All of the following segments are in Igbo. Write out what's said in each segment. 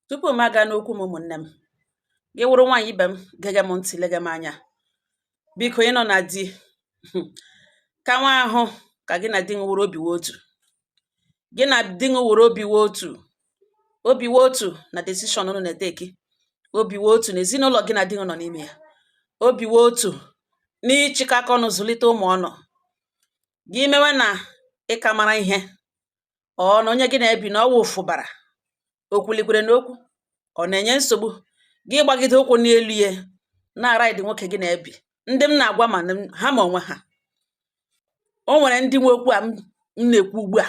tupu m aga n'okwu m ụmụnne m gị wụrụ nwaanyị ibe m gege m ntị lege m anya biko ị nọ na di ka nwa ahụ ka gị na di nụ wụrụ obi otu gị na di nụ wụrụ obi otu obi otu na decision unu na-eteki obi otu na ezinụlọ gị na di nọ n'ime ya obi otu n'ịchịkọ aka ọnụ zụlite ụmụ unu gị mewe na ị ka mara ihe ọ na onye gị na-ebi na ọ wụ ụfụbara o kwulikwere n'okwu ọ na-enye nsogbu gị gbagide ụkwụ n'elu ya na-araịdị nwoke gị na-ebi ndị m na-agwa ma ha ma onwe ha o nwere ndị nwe okwu a m na-ekwu ugbu a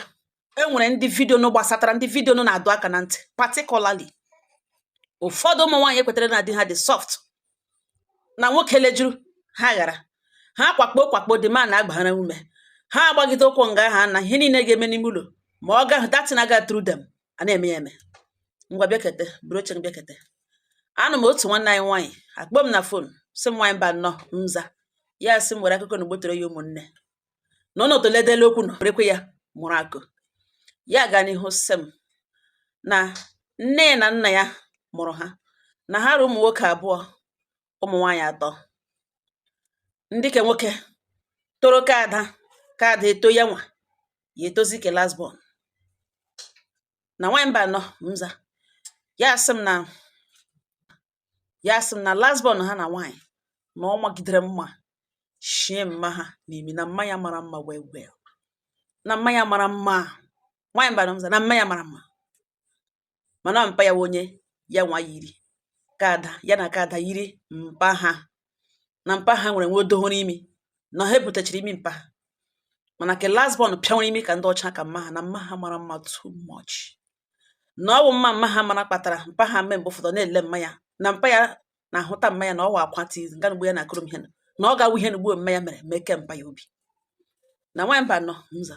e nwere ndị vidio nụ gbasatara ndị vidio nụ na-adọ aka na ntị particularly ụfọdụ ụmụ nwaanyị ekwetara na di ha dị soft na nwoke lejuru ha ghara ha kwakpo kwakpo dị ma na-agbara ume ha agbagide ụkwụ nga ha na ihe niile ga-eme n'ime ụlọ ma ọ gaghị that thing aga through them a na-eme ya eme ngwa bịakete buru oche bịakete anọ m otu nwanne anyị nwaanyị akpọọ m na fon sị m nwaanyị Mbano m za ya sị m were akụkọ nụ gbotoro ya ụmụnne na ọ nọtụledela okwu nụ rekwe ya mụrụ akụ ya gaa n'ihu sị m na nne na nna ya mụrụ ha na ha ra ụmụ nwoke abụọ ụmụ nwaanyị atọ ndị ke nwoke toro ka ada ka ada eto ya nwa ya etozi ke last born na nwaanyị Mbano m za ya asị m na ya sị m na last born ha na nwaanyị na ọ magidere mma shie mma ha n'imi na mma ya mara mma well well na mma ya mara mma nwaanyị Mbano m za na mma ya mara mma mana mpa ya onye ya nwa yiri ka ada ya na ka ada yiri mpa ha na mpa ha nwere nwa odohoro imi na ha ebutechiri imi mpa ha mana ke last born pịanwere imi ka ndị ọcha ka mma ha na mma ha mara mma too much na ọ wụ mma mma ha mara kpatara mpa ha mee mgbe ụfọdụ na-ele mma ya na mpa ya na-ahụta mma ya na ọ wa akwa tii nga mgbe ya na-akọrọ m ihe na ọ ga-awụ ihe na ugbo mma ya mere mee ke mpa ya obi na nwaanyị Mbano m za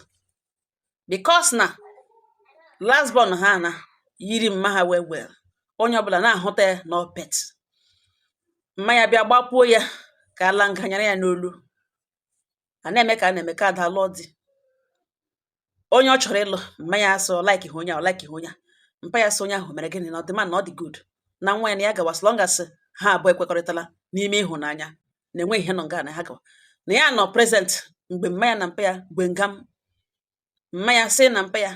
because na last born ha na yiri mma ha well well onye ọbụla na-ahụta ya na ọ pet mma ya bịa gbapuo ya ka ala nganyara ya n'olu a na-eme ka a na-eme ka ada lụọ di onye ọ chọrọ ịlụ mma ya asị ọ like ha onye a ọ like ha onye a mpa ya sị onye ahụ mere gịnị na ọ dị mma na ọ dị good na nwa ya na ya gawa as long as ha abụọ ekwekọrịtala n'ime ịhụnanya na enweghị ihe nọ nga na ha gawa na ya nọ present mgbe mma ya na mpa ya gbe ngam mma ya sị na mpa ya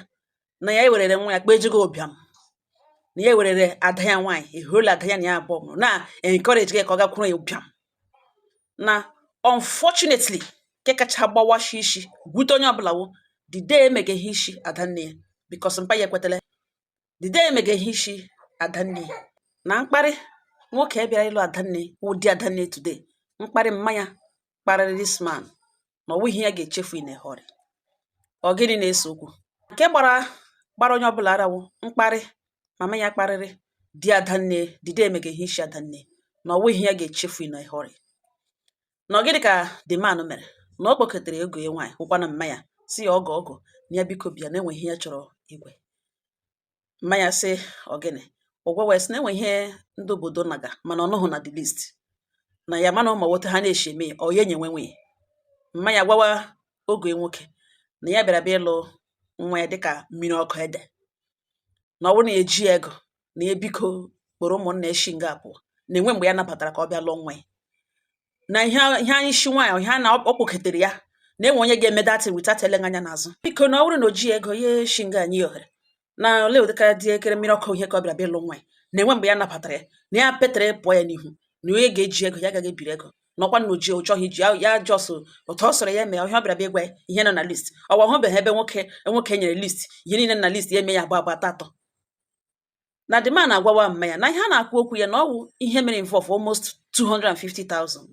na ya ewerere nwa ya kpejigo ụbịam na ya ewerere ada ya nwaanyị ehuola ada ya na ya abụọ mụrụ na encourage gị ka ọ gakwuru ya ụbịam na unfortunately nke kacha gbawashi isi gwute onye ọbụla wụ the day emega ihe isi ada nne ya because mpa ya ekwetala the day emega ihe isi ada nne ya na mkparị nwoke bịara ịlụ adanne wụ di adanne today mkparị mma ya kparịrị this man na ọ wụghị ihe ya ga-echefu in a hurry ọ gịnị na-ese okwu nke gbara gbara onye ọbụla ara wụ mkparị mama ya kparịrị di adanne the day emega ihe isi adanne na ọ wụghị ihe ya ga-echefu in a hurry na ọ gịnị ka the man mere na ọ kpọketere ọgọ ya nwaanyị wụkwanụ mma ya sị ya ọgọ ọgọ na ya biko bịa na enwe ihe ya chọrọ ịgwa ya mma ya sị ọgịnị ọ gwawa ya sị na enwe ihe ndị obodo naga mana ọ nọghị na the list na ya amaghị ma ọ wụ otu ha na-eshi eme ya ọ ya enye nwe nwunye mma ya gwawa ọgọ ya nwoke na ya bịara bịa ịlụ nwa ya dịka mmiri ọkụ ede na ọ wụrụ na ya eji ego na ya biko kpọrọ ụmụnna ya shi nga pụọ na enwe mgbe ya nabatara ka ọ bịa lụọ nwa ya na ihe ihe ishi nwaanyị ihe a na ọ kpọketere ya na enwe onye ga-eme that thing without ele anya n'azụ biko na ọ bụrụ na o ji ego ya shi nga nye ohere na ole ụdịka dị ekere mmiri ọkụ ihe ka ọ bịara bịa ịlụ nwa ya na enwe mgbe ya nabatara ya na ya petere pụọ ya n'ihu na onye ga-eji ego ya agaghị ebiri ego na ọkwa na o ji ọ chọghị iji ya just otu ọ sọrọ ya mee ihe a ọ bịara bịa ịgwa ya ihe nọ na list ọ hụbeghị ebe nwoke nwoke nyere list ihe niile na list ya eme ya agba agba atọ na the man agwawa mma ya na ihe a na-ekwu okwu ya na ọ wụ ihe mere involve almost 250,000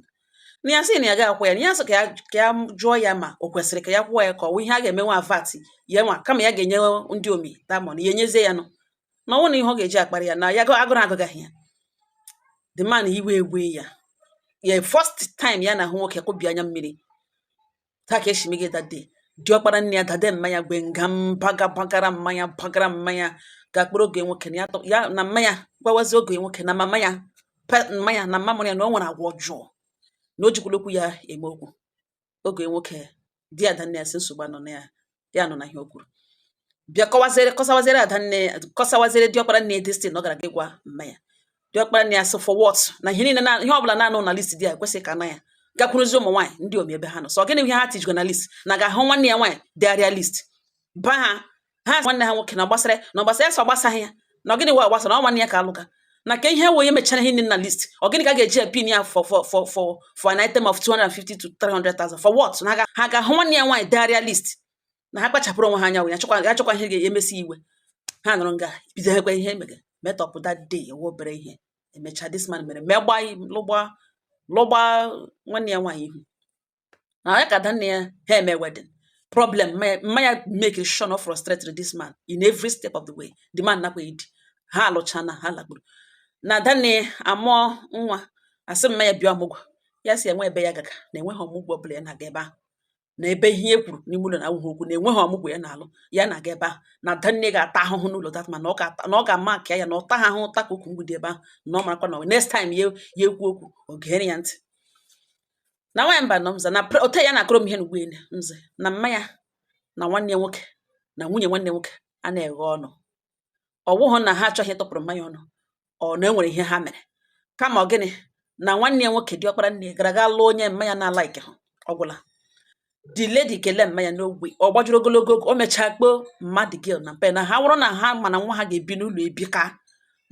na ya sị na ya ga-akwụ ya na ya sị ka ya ka ya jụọ ya ma o kwesịrị ka ya kwụọ ya ka ọ wụ ihe a ga-eme nwa vat ya nwa kama ya ga-enye ndị omi that money ya enyezie ya nụ na ọ wụ na ihe ọ ga-eji akparị ya na ya ga- agụrụ agụgaghị ya the man iwe ewe ya ya first time ya na-ahụ nwoke kụbi anya mmiri taa ka esi mega that day diọkpara nne ya that day mma ya gbe nga mbaga bagara mma ya bagara mma ya ga-akpọrọ ọgọ ya nwoke na ya tọ- ya na mma ya gwawazi ọgọ ya nwoke na mama ya pe- mma ya na mama ya na o nwere agwa ọjọọ na o jikwala okwu ya eme okwu ọgọ ya nwoke di ada nne ya sị nsogbu anọ na ya ya nọ na ihe o kwuru bịa kọwazere kọsawazere ada nne ya kọsawazere diọkpara nne ya this thing na ọ gara ga gwa mma ya diọkpara nne ya sị for what na ihe niile na ihe ọbụla na-anọghị na list di ya ekwesịghị ka na ya gakwuruzi ụmụ nwaanyị ndị omi ebe ha nọ sị gịnị bụ ihe ha tijikwa na list na ha ga-ahụ nwanne ya nwaanyị degharịa list ba ha ha sị nwanne ha nwoke na ọ gbasara na ọ gbasara ya sị ọ gbasaghị ya na ọ gịnị wa gbasara na ọ nwanne ya ka alụga na ka e wee mechara ihe nọ na list ọ gịnị ka ga-eji epin ya for for for for for an item of 250 to 300,000 for what na ha ga-ahụ nwanne ya nwaanyị degharịa list na ha kpachapụrụ onwe ha anya ya chọkwa ya chọkwa ihe ga-emesi iwe ha nọrọ nga bido ekwe ihe emega metọpụ that day ewe obere ihe emecha this man mere megba lụgba lụgba nwanne ya nwaanyị ihu na ya ka adanne ya ha eme wedding problem mma ya make sure na ọ frustrated this man in every step of the way the man nakwa edi ha alụcha na ha lagburu na adanne amụọ nwa a sị mma ya bịa ọmụgwọ ya sị enwe ebe ya ga-aga na enweghị ọmụgwọ ọbụla ya na-aga ebe ahụ na ebe ihe e kwuru n'ime ụlọ na awụghị okwu na enweghị ọmụgwọ ya na-alụ ya na-aga ebe ahụ na adanne ga-ata ahụhụ n'ụlọ that man na ọ ga-ama nke ya na ọ taghị ahụhụ ta ka ukwu mgbidi ebe ahụ na ọ marakwa na next time ya ekwu okwu ọ gere ya ntị na nwaanyị Mbanọ mza na ote ya na-akọrọ m ihe n'ugbu ele mze na mma ya na nwanne nwoke na nwunye nwanne nwoke a na-eghe ọnụ ọ wụghụ na ha achọghị ịtụpụrụ mma ya ọnụ ọ na enwere ihe ha mere kama ọ gịnị na nwanne nwoke diọkpara nne gara ga lụọ onye mma ya na-alikeghị ọ gwụla the lady kelee mma ya no way ọ gbajuru ogologo o mechaa kpọọ mma the girl na mpa na ha wụrụ na ha ma na nwa ha ga-ebi n'ụlọ ebi ka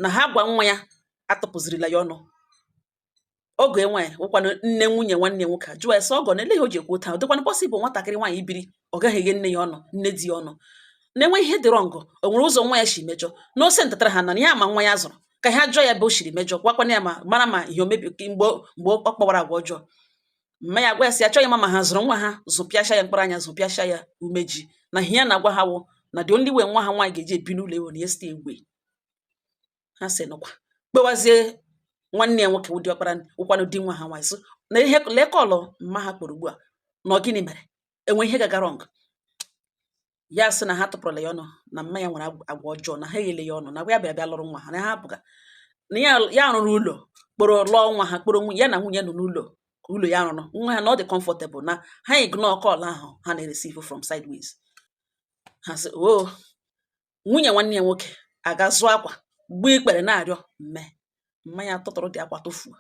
na ha gwa nwa ya atụpụzirila ya ọnụ ọgọ ya nwaanyị wụkwanụ nne nwunye nwanne ya nwoke a jụọ ya sị ọgọ na ele ihe o ji ekwu otu a ọ dịkwanụ possible nwatakịrị nwaanyị ibiri ọ gaghị eghe nne ya ọnụ nne di ya ọnụ na enwe ihe dị wrong o nwere ụzọ nwa ya si mejọ na ose ntatara ha na ya ma nwa ya zụrụ ka ha jụọ ya ebe o siri mejọ gwakwana ya ma mara ma ihe omebi mgbe mgbe ọ kpawara agwa ọjọọ mma ya gwa ya sị achọghị ịma ma ha zụrụ nwa ha zụpịacha ya mkpụrụ anya zụpịacha ya umeji na ihe ya na-agwa ha wụ na the only way nwa ha nwaanyị ga-eji ebi n'ụlọ a wụ na ya site egbe ha sị nụkwa kpewazie nwanne ya nwoke wụ diọkpara wụkwanụ di nwa ha nwaanyị so na ihe lee call mma ha kpọrọ ugbu a na gịnị mere enwe ihe gaga wrong ya sị na ha atụpụrụla ya ọnụ na mma ya nwere agwa ọjọọ na ha eghele ya ọnụ na ya bịara bịa lụrụ nwa ha na ha apụga na ya rụrụ ụlọ kpọrọ lụọ nwa ha kpọrọ ya na nwunye nọ n'ụlọ ụlọ ya rụrụ nwa ha na ọ dị comfortable na ha ignore call ahụ ha na-ereceive from sideways ha sị o oh, nwunye nwanne ya nwoke aga zụọ akwa gbuo ikpere na-arịọ mma mma ya tụtụrụ the akwa tụfuo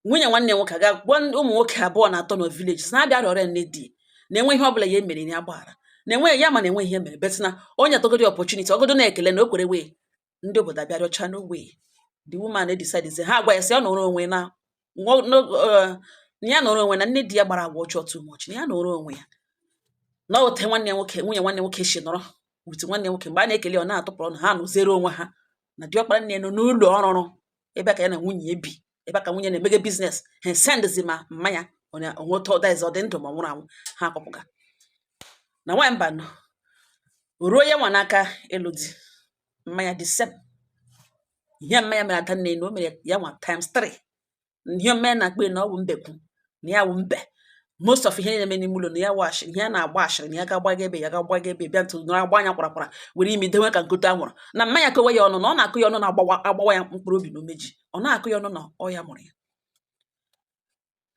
nwunye nwanne ya nwoke aga gwa ụmụ nwoke abụọ na atọ na village sị na ha bịa rịọrọ nne di na enwe ihe ọbụla ya emere ya gbaghara na enweghị ya ma na enweghị ihe mere but na o nyetụgodi opportunity ọgodo na-ekele na o kwere wee ndị obodo abịa rịọcha no way the woman decide ha agwa ya sị ọ nọrọ onwe na eh, na ya nọrọ onwe na nne di ya kpara agwa ọjọọ too much na ya nọrọ onwe ya na ote nwanne nwoke nwunye nwanne nwoke si nọrọ with nwanne nwoke mgbe a na-ekele ọ na-atụpụrụ ọnụ ha nọziere onwe ha na diọkpara nne nọ n'ụlọ ọ rụrụ ebe ka ya na nwunye ebi ebe ka nwunye na-emege business ha sendzi ma mma ya o nwe otu ọ that is ọ dị ndụ ma nwụrụ anwụ ha akpọpụga na nwaanyị Mbanọ ruo ya nwa n'aka ịlụ di mma ya the same ihe mma ya mere adanne na o mere ya nwa times 3 ihe mma ya na-akpa na ọ wụ mbekwu na ya wụ mbe most of ihe na-eme n'ime ụlọ na ya wash ihe a na-agba ashịrị na ya ga-agbaga ebe ya ga-agbaga ebe bịa ntụ nọrọ agba anya kwara kwara were imi dewe ka nkote anwụrụ na mma ya kọwa ya ọnụ na ọ na-akọ ya ọnụ na-agbawa agbawa ya mkpụrụ obi na umeji ọ na-akọ ya ọnụ na ọ ya mụrụ ya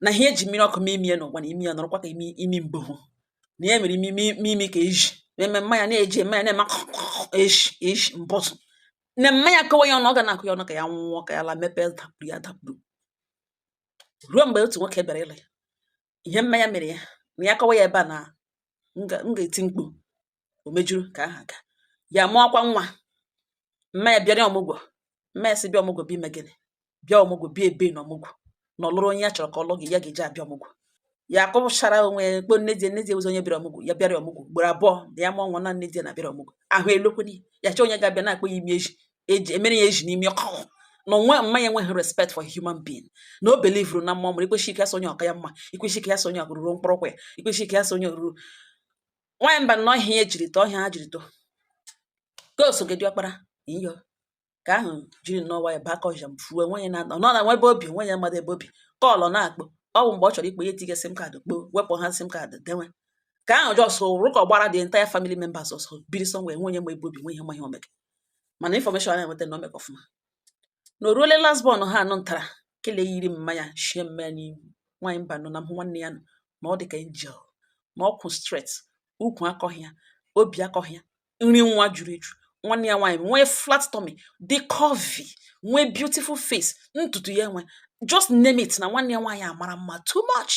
na ihe eji mmiri ọkụ mee imi ya n'ụwa na imi ya nọrọkwa ka imi imi mboho na ya mere imi imi imi ka eji na-eme mma ya na-eji eme ya na-eme eji eji mbọtụ na mma ya kọwa ya ọnụ ọ ga na-akọ ya ọnụ ka ya nwụọ ka ya la mepee dapụrụ ya dapụrụ ruo mgbe otu nwoke bịara ịlụ ya ihe mma ya mere ya na ya kọwa ya ebe a na m ga-eti mkpu o mejuru ka ahụ ka ya mụọkwa nwa mma ya bịara ọmụgwọ mma ya sị bịa ọmụgwọ bịa ime gịnị bịa ọmụgwọ bịa ebe na ọmụgwọ na ọ lụrụ onye ya chọrọ ka ọ lụ gị ya ga-eji abịa ọmụgwọ ya akọpụchara onwe ya kpo nne di nne di ụzọ onye bịara ọmụgwọ ya bịara ọmụgwọ ugboro abụọ na ya mụọ nwa na nne di na bịara ọmụgwọ ahụ elokwenye ya chọọ onye ga-abịa na-akpọ ya imi eji eji emere ya eji n'imi ọkụ na onwe mma ya enweghị respect for human being na o belivuru na mmụọ mụrụ ikwechi ike ya so onye ọ ka ya mma ikwechi ike ya so onye ọka ruru mkpọrọkwa ya ikwechi ike ya so onye ruru nwaanyị mba na ọ ihe ya jiri too ihe ha jiri too ka osoge diọkpara iyo ka ahụ jiri nnọọ nwayọ baa kọja m fuo nwaanyị na-anọ nọ na nwe ebe o bi nwe onye madụ ebe o bi call ọ na-akpọ ọ bụ mgbe ọ chọrọ ịkpọ ya etinye sim card kpọọ wepụ ya sim card denwe ka ahụ just rụkọ gbara the entire family members ọsọ biri somewhere nwe onye ma ebe o bi nwe onye ma ihe o mega mana information a na-enweta na o mega ọfụma na o ruole last born ha anụ ntara kele yiri mma ya shie mma ya n'ihu nwaanyị mba nọ na m hụ nwanne ya nọ na ọ dị ka angel na ọ kwụ straight ukwu akọghị ya obi akọghị ya nri nwa juru eju nwanne ya nwaanyị nwee flat tummy dị curvy nwee beautiful face ntutu ya enwe just name it na nwanne ya nwaanyị amara mma too much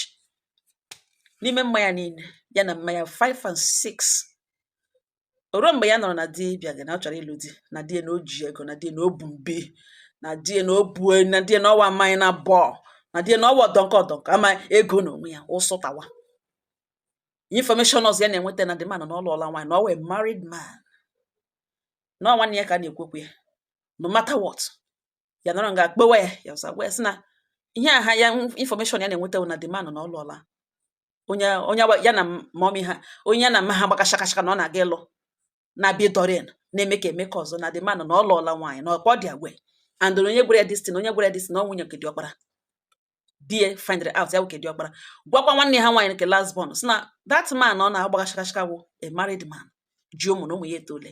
n'ime mma ya niile ya na mma ya 5 and 6 o ruo mgbe ya nọrọ na di bịaga na ọ chọrọ ịlụ di na di ya na o ji ego na di ya na o bu mbi na di ya na o bu e, na di ya na ọ wụ Amanyanabo na di ya na ọ wụ ọdọnkọ ọdọnkọ ama ego na onwe ya ụsụtawa information ọzọ ya na-enweta na the man na ọ lụọla nwaanyị na ọ wụ a married man na nwanne ya ka na-ekwekwe ya no matter what ya nọrọ nga kpọwa ya ya ọzọ gwa ya sị na ihe aha ya information ya na-enweta na the man na ọ lụọla onye onye ya na mummy ha onye ya na mma ha gbaga shakashaka na ọ na-aga ịlụ na-abịa ịdọrin na-eme ka eme ka ọzọ na the man na ọ lụọla nwaanyị na ọkwa ọ dị agwa and onye gwara ya this thing onye gwara ya this thing na ọ nwunye nke diọkpara di ya find out ya nwoke diọkpara gwakwa nwanne ha nwaanyị nke last born sị na that man ọ na-agbaga shakashaka wụ a married man ji ụmụ na ụmụ ya etoole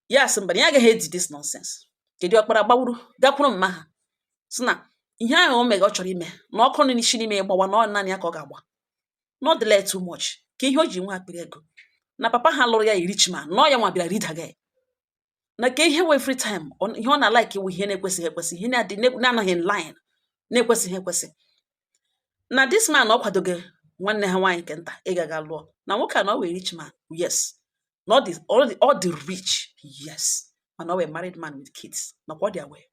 ya asị mba na ya agaghị edi this nonsense nke diọkpara gbawuru gakwuru mma ha sị na ihe ahụ o mega ọ chọrọ ime na ọkụ nọ n'isi n'ime gbawa na ọ naanị ya ka ọ ga-agba not delay too much ka ihe o ji nwee akpịrị ego na papa ha lụrụ ya rich man na ọ ya nwa bịara rida ya na ka ihe wụ every time ọ- ihe ọ na-alike ikwu ihe na-ekwesịghị ekwesị ihe na-adị na-anọghị in line na-ekwesịghị ekwesị na this man ọ kwadoge nwanne ha nwaanyị nke nta ịga ga lụọ na nwoke a na ọ wụ a rich man yes na ọ dị ọ dị ọ dị rich yes mana ọ wụ a married man with kids nakwa ọ dị aware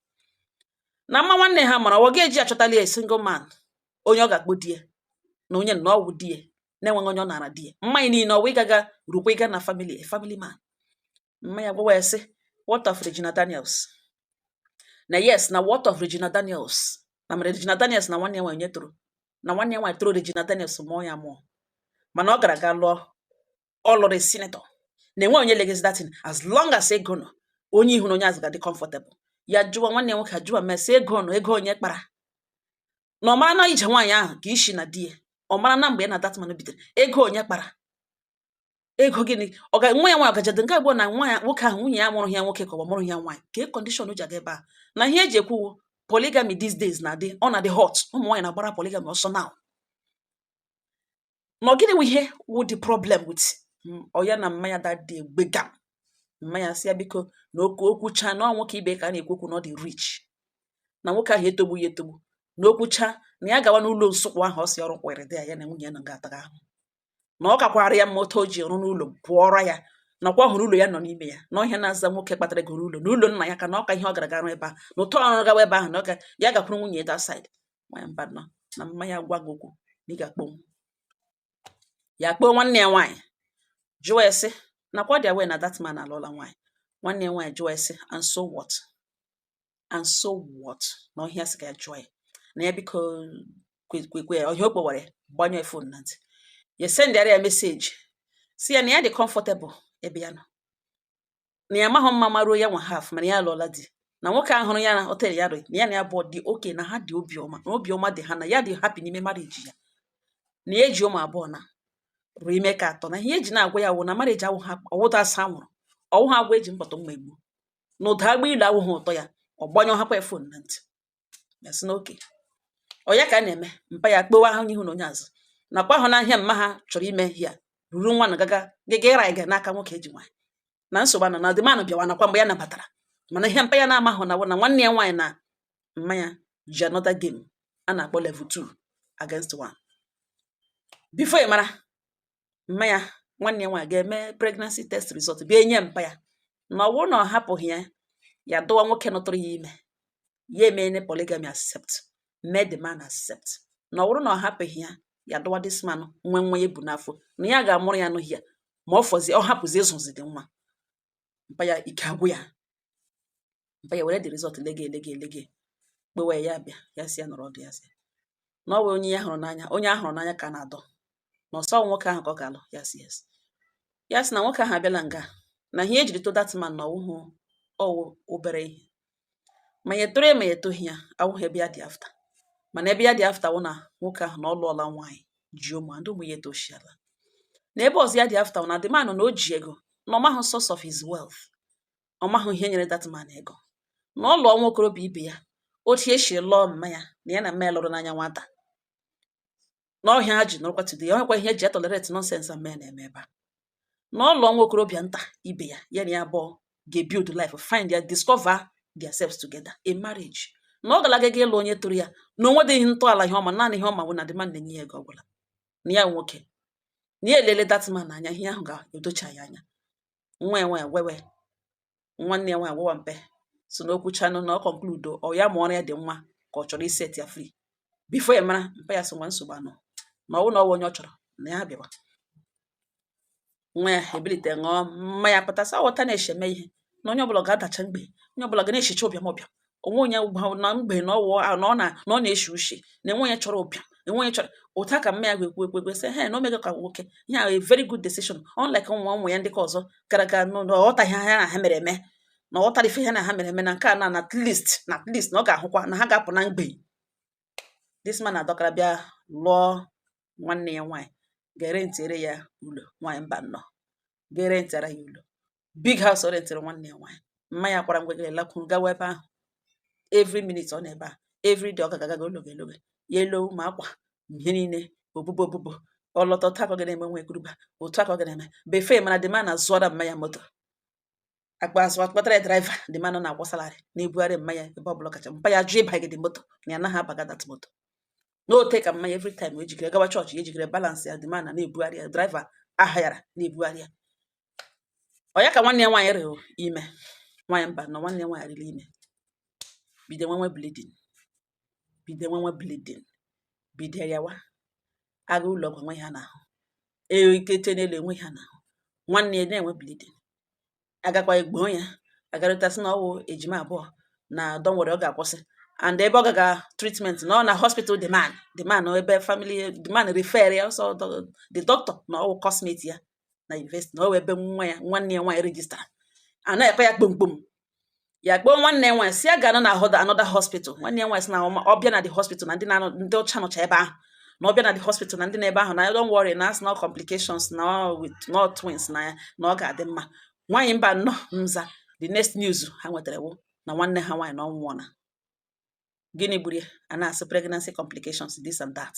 na mma nwanne ha mara ọ ga-eji achọtali a single man onye ọ ga-akpọ di ya na onye na ọ wụ di ya na-enweghị onye ọ nara di ya mmanya niile ọwa ịgaga rukwa ịga na family a family man mma ya gwawa ya sị what of Regina Daniels na yes na what of Regina Daniels na mere Regina Daniels na nwanne ya nwaanyị toro na nwanne ya nwaanyị toro Regina Daniels mụọ ya amụọ mana ọ gara ga lụọ ọ lụrụ senator na enwe onye legezi that thing as long as ego nọ onye ihu na onye azụ ga-adị comfortable ya jụwa nwanne ya nwoke ajụwa mma ya sị ego nọ ego onye kpara na ọ mara na ije nwaanyị ahụ ka isi na di ya ọ mara na mgbe ya na that man bidoro ego onye kpara ego gịnị ọ ga nwa ya nwaanyị ọ ga-eje di nke abụọ na nwa ya nwoke ahụ nwunye ya mụrụ ya nwoke ka ọ mụrụ ya nwaanyị ka e condition o ji aga ebe a na ihe eji ekwu polygamy these days na-adị ọ na-adị hot ụmụ nwaanyị na-agbara polygamy ọsọ now na gịnị bụ ihe wụ the problem with mm, ọ ya na mma ya that day gbega mma ya sị ya biko na oke okwu cha na nwoke ibe ka a na-ekwu okwu na ọ dị rich na nwoke ahụ etogbu ya etogbu na okwu cha na ya gawa n'ụlọ nsụkwụ ahụ ọ si ọrụ kwere dị ya ya na nwunye ya na ga-ataga ahụ na ọ kakwara ya mma otu o ji rụọ ụlọ pụọrọ ya nakwa ọ hụrụ ụlọ ya nọ n'ime ya na ọ ihe a na-aza nwoke kpatara ego rụọ ụlọ na ụlọ nna ya ka na ọ ka ihe ọ gara ga rụ ebe a na ụtọ ọrụ gawa ebe ahụ na ọ ka ya gakwuru nwunye ya that side nwaanyị mba nọ na mma ya gwa gị okwu na ị ga-akpọ ya kpọọ nwanne ya nwaanyị jụọ ya sị nakwa ọ dị aware na that man alụọla nwaanyị nwanne ya nwaanyị jụọ ya sị and so what and so what na ọ ihe a sị ka ya jụọ ya na ya biko kwekwe ọ ihe a ọ kpọwara gbanyụọ phone na ntị ya sendịara ya message sị ya na ya dị comfortable ebe ya nọ na ya amaghị mma maruo ya nwa half mana ya alụọla di na nwoke a hụrụ ya na hotel ya rụrụ na ya na ya bụ dị okay na ha dị obi ọma na obi ọma dị ha na ya dị happy n'ime marriage ya na ya eji ụmụ abụọ na rụrụ ime nke atọ na ihe eji na-agwa ya wụ na marriage awụha ọwụta asa nwụrụ ọwụ ha agwa eji mkpọtụ mma egbu na ụda agba ilu awụghị ụtọ ya ọ gbanyụọ hapụ ya phone na ntị ya sị na okay ọ ya ka a na-eme mpa ya kpọwa onye ihu na onye azụ nakwa ahụna ihe a mma ha chọrọ ime ya ruru nwa na gaga gaga ịra ịga n'aka nwoke eji nwaanyị na nsogbu anọ na the man bịawa nakwa mgbe ya nabatara mana ihe mpa ya na-amahụ na na nwanne ya nwaanyị na mma ya ji another game a na-akpọ level 2 against 1 before ị mara mma ya nwanne ya nwaanyị ga-eme pregnancy test result bịa enye mpa ya na ọ bụrụ na ọ hapụghị ya ya dụwa nwoke nụ tụrụ ya ime ya emeena polygamy accept mee the man accept na ọ bụrụ na ọ hapụghị ya ya dụwa this man nwe nwa ya bu n'afọ na ya ga-amụrụ ya n'ohi ya ma ọ fọzie ọ hapụzi ịzụzi the nwa mpa ya ike agwụ ya mpa ya were the result lege lege lege kpewe ya bịa ya sị ya nọrọ ọdụ ya sị na ọ bụ onye ya hụrụ n'anya onye a hụrụ n'anya ka na-adọ na ọ sọ nwoke ahụ ka ọ ga-alụ ya sị yes ya sị na nwoke ahụ abịala nga na ihe e jiri to that man na ọ wụhụ ọ wụ obere ihe ma ya etoro ya ma ya etoghị ya awụghị ebe ya dị after mana ebe ya dị after wụ na nwoke ahụ na ọ lụọla nwaanyị ji ụmụ ndị ụmụ ya etoshiala na ebe ọzọ ya dị after na the man na o ji ego na ọ mahụ source of his wealth ọ mahụ ihe nyere that man ego na ọ lụọ nwa okorobịa ibe ya otu e si lụọ mma ya na ya na mma ya lụrụ n'anya nwata na ọ ihe a ha ji nọrọkwa today ọ ihe akwa ihe e ji etolerate nonsense mma ya na-eme ebe a na ọ lụọ nwa okorobịa nta ibe ya ya na ya abụọ ga-ebuild life find ya discover themselves together in marriage na ọ galaga gị ịlụ onye tọrọ ya na o nwedịghị ntọala ihe ọ ma naanị ihe ọ ma bụ na the man na-enye ya ego ọbụla na ya nwoke na ya elele that man anya ihe ahụ ga-edocha ya anya nwa iwe wewe nwanne ya nwaanyị wewa mpa sị na o kwuchanụ na ọ conclude ọ ya ma ọrụ ya dị mma ka ọ chọrọ iset ya free before ya mara mpa ya sị o nwa nsogbu anọ na ọ wụ na ọ wụ onye ọ chọrọ na ya bịawa nwa ya ebilite ṅụọ mmanya pụta sa wọta na-echeme ihe na onye ọbụla ga-adacha mgbei onye ọbụla ga na-eshicha ụbịam ụbịam o nwe onye na mgbei na ọ wụ na ọ na ọ na-eshi ushi na enwe onye chọrọ ụbịam enwe onye chọrọ ụta ka mma ya ga-ekwu ekwu ekwu sị he na o mega ka nwoke ihe a very good decision unlike ụmụ ụmụ ya ndị ka ọzọ gara aga na ọ ghọtaghị ha na ha mere eme na ọ ghọtara ife ha na ha mere eme na nke a na at least na at least na ọ ga-ahụkwa na ha ga-apụ na mgbei this man adọkara bịa lụọ nwanne ya nwaanyị ga-erentiere ya ụlọ nwaanyị mbano ga-erentara ya ụlọ big house o rentiri nwanne ya nwaanyị mma ya kwara ngwegere lakwuru gawa ebe ahụ every minute ọ nọ ebe a every day ọ ga-agaga ologe ologe ya elo ma akwa ihe niile obubo obubo ọ lọta otu aka ọ ga na-eme nwa ekuruba otu aka ọ ga na-eme befe mana the man azụọra mma ya moto akpa azụ akpatara ya driver the man nọ na-akwụ salary na-ebugharị mma ya ebe ọ bụla kacha mpa ya jụ ịbaga the moto na ya anaghị abaga that moto n'ote ka mma ya every time o jikere gawa chọọchị ya ejikere balance ya the man na na-ebugharị ya driver a hayara na-ebugharị ya ọ ya ka nwanne ya nwaanyị rịrị ime nwaanyị mbano nwanne ya nwaanyị rịrị ime bido nwewe bleeding bido nwewe bleeding bido gawa aga ụlọ ọgwụ enwe ihe a na-ahụ eyo ike te n'elu enwe ihe a na-ahụ nwanne ya na-enwe bleeding agakwa egboo ya agarịta sị na ọ wụ ejima abụọ na don't worry ọ ga-akwụsị and ebe ọ gaga treatment nọ na hospital the man the man ebe family the man refer ya also the doctor na ọ wụ coursemate ya na yunivesiti na ọ wụ ebe nwa ya nwanne ya nwaanyị rejistara na-ekpe ya kpomkpom ya kpọọ nwanne ya nwaanyị sị ya gaanụ na another hospital nwanne ya nwaanyị sị na ọ bịa na the hospital na ndị na ndị ọcha nọcha ebe ahụ na ọ bịa na the hospital na ndị na ebe ahụ na don't worry na a sị na complications na with no twins na ya na ọ ga-adị mma nwaanyị mba nnọọ nza the next news ha nwetara wụ na nwanne ha nwaanyị na ọ nwụọna gịnị gburu ya a na-asị pregnancy complications this and that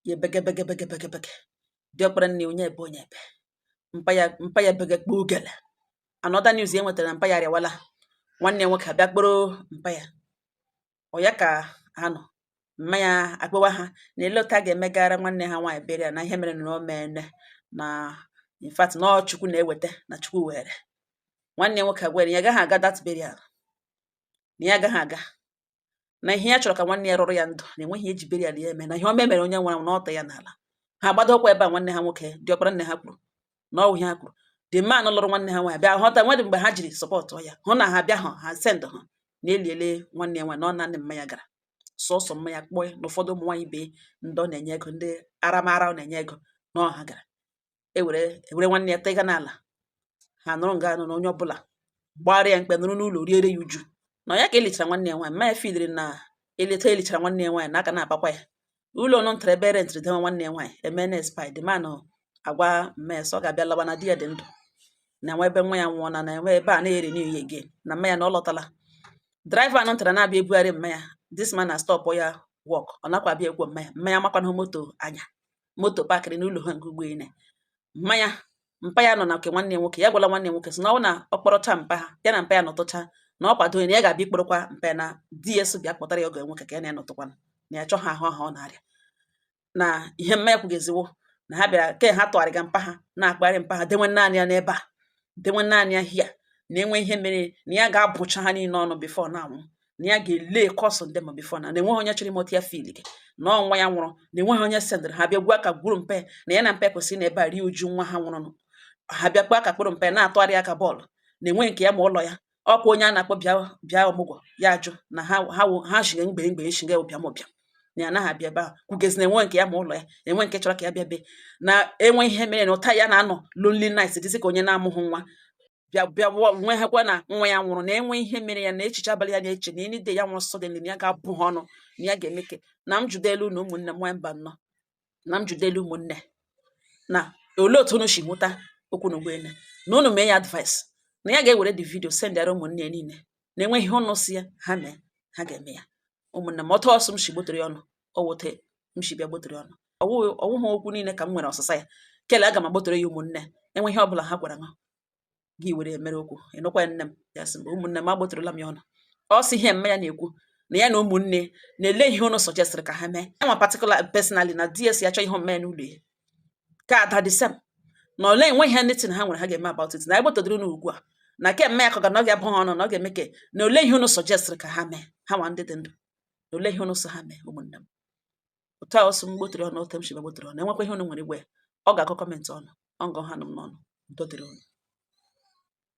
ya ebege ebege diọkpara nne onye ebe onye ebe mpa ya mpa ya bege kpọọ ugele another news e nwetara na mpa ya arịawala nwanne ya nwoke abịa kpọrọ mpa ya ọ ya ka ha nọ mma ya akpọwa ha na ele otu a ga-emegara nwanne ha nwaanyị burial na ihe mere na o meene na in fact na ọ chukwu na-eweta na chukwu were nwanne ya nwoke agwa ha ya agaghị aga that burial na ya agaghị aga na ihe ya chọrọ ka nwanne ya rụrụ ya ndụ na enweghị e ji burial ya eme na ihe ọma e mere onye nwụrụ na ọta ya n'ala ha gbadokwa ebe a nwanne ha nwoke diọkpara nne ha kwuru na ọ wụ ihe ha kwuru the man lụrụ nwanne ha nwaanyị bịa họta nwedị mgbe ha jiri support ya hụ na ha bịa hụ ha send ha na eliele nwanne ya nwaanyị na ọ naanị mma ya gara sọsọ mma ya kpọọ na ụfọdụ ụmụ nwaanyị bee ndị ọ na-enye ego ndị aramara ọ na-enye ego na ọ ha gara ewere ewere nwanne ya tega n'ala ha nọrọ nga anụ na onye ọbụla gbara ya mkpe nọrọ n'ụlọ riere ya uju na ya ka elichara nwanne ya nwaanyị mma ya fidiri na eleta elichara nwanne ya nwaanyị na aka na-abakwa ya ụlọ nọ ntara ebe rentịrị dewe nwanne ya nwaanyị emene the man agwa maids ọ ga-abịa lawa na di ya dị ndụ na nwa ebe nwa ya nwụọ na na enwe ebe a na-eri n'ihe ya again na mma ya na ọ lọtala driver nọ ntara na-abịa ebugharị mma ya this man astop ya work ọ nakwa abịa akwọ mma ya mma ya makwanahụ moto anya moto pakịrị n'ụlọ ha nke ugbo ine mma ya mpa ya nọ na nke nwanne ya nwoke ya gwala nwanne nwoke sị na ọ na ọ kpọrọcha mpa ha ya na mpa ya nọtụcha na ọ kwado na ya ga-abịa ikpọrọkwa mpa ya na di ya sị bịa kpọtara ya ọgọ nwoke ka ya na ya nọtụkwana na ya chọghị ahụ ahụ ọ na-arịa na ihe mma ya kwugezi wụ na ha bịara ka ha tụgharịga mpa ha na-akpagharị mpa ha dewe naanị ya n'ebe a dewe naanị ya here na enwe ihe mere na ya ga-abụcha ha niile ọnụ before ya anwụ na ya ga-lay curse on them before na enweghị onye chọrọ ịma otu ya feelga na ọ nwa ya nwụrụ na enweghị onye sendịrị ha bịa kpa aka kpụrụ mpe na ya na mpe kwesịrị ịnọ ebe a rie uju nwa ha nwụrụ ha bịa kpa aka kpụrụ mpe na-atụgharị ya ka ball na enweghị nke ya ma ụlọ ya ọ kwa onye a na-akpọ bịa bịa ọmụgwọ ya ajụ na ha ha wụ- ha shiga mgbe mgbe shiga ụbịam ụbịam na ya anaghị abịa ebe ahụ kwugezi na enwe nke ya ma ụlọ ya enwe nke chọrọ ka ya bịa be na enwe ihe mere na otu a ya na-anọ lonely night dịzị ka onye na-amụghị nwa bịa bịa wụọ- nwe ha kwa na nwa ya nwụrụ na enwe ihe mere ya na echiche abalị ya na-eche na any day ya nwụrụ sudden na ya ga-abụ ha ọnụ na ya ga-eme ka na m jụdelu na ụmụnne m nwanyị mba nnọọ na m jụdịrị ụmụnne na olee otu unu si hụta okwu na ugbu a na unu mee ya advice na ya ga-ewere the video sendịara ụmụnne ya niile na enwe ihe unu sị ya ha mee ha ga-eme ya ụmụnne m otu ọ sị m si gbotere ya unu ọ wụ otu m si bịa gbotere unu ọwụghị okwu niile ka m nwere ọsịsa ya kele aga m agbotere ya ụmụnne enwe ihe ọ bụla ha gwara gị were mere okwu ịnụkwa nne m ya sị mgbe ụmụnne m agbotụrụla m ya unu ọ sị ihe mme ya na-ekwu na ya na ụmụnne na olee ihe ụnụ suggestịrị ka ha mee ya nwa particular personally na ds ya chọọ ihe mme n'ụlọ ya ka ada dị same na olee enwe ihe ndị na ha nwere ha ga-eme about it na egbotodoro unu ugbu a na ke mme ya ka ga na ọ ga-abụ ha ọnụ na ọ ga-eme ke na olee ihe ụnụ suggestịrị ka ha mee ha nwa ndị dị ndụ na olee ihe ụnụ sị ha mee ụmụnne m otu a ọ sị m gbotere unu otu m shi bịa gbotere unu enwekwa ihe unu nwere ịgwa ya ọ ga-akọ comment unu ọ nga ọ ha nụ m n'ọnụ udo dịrị unu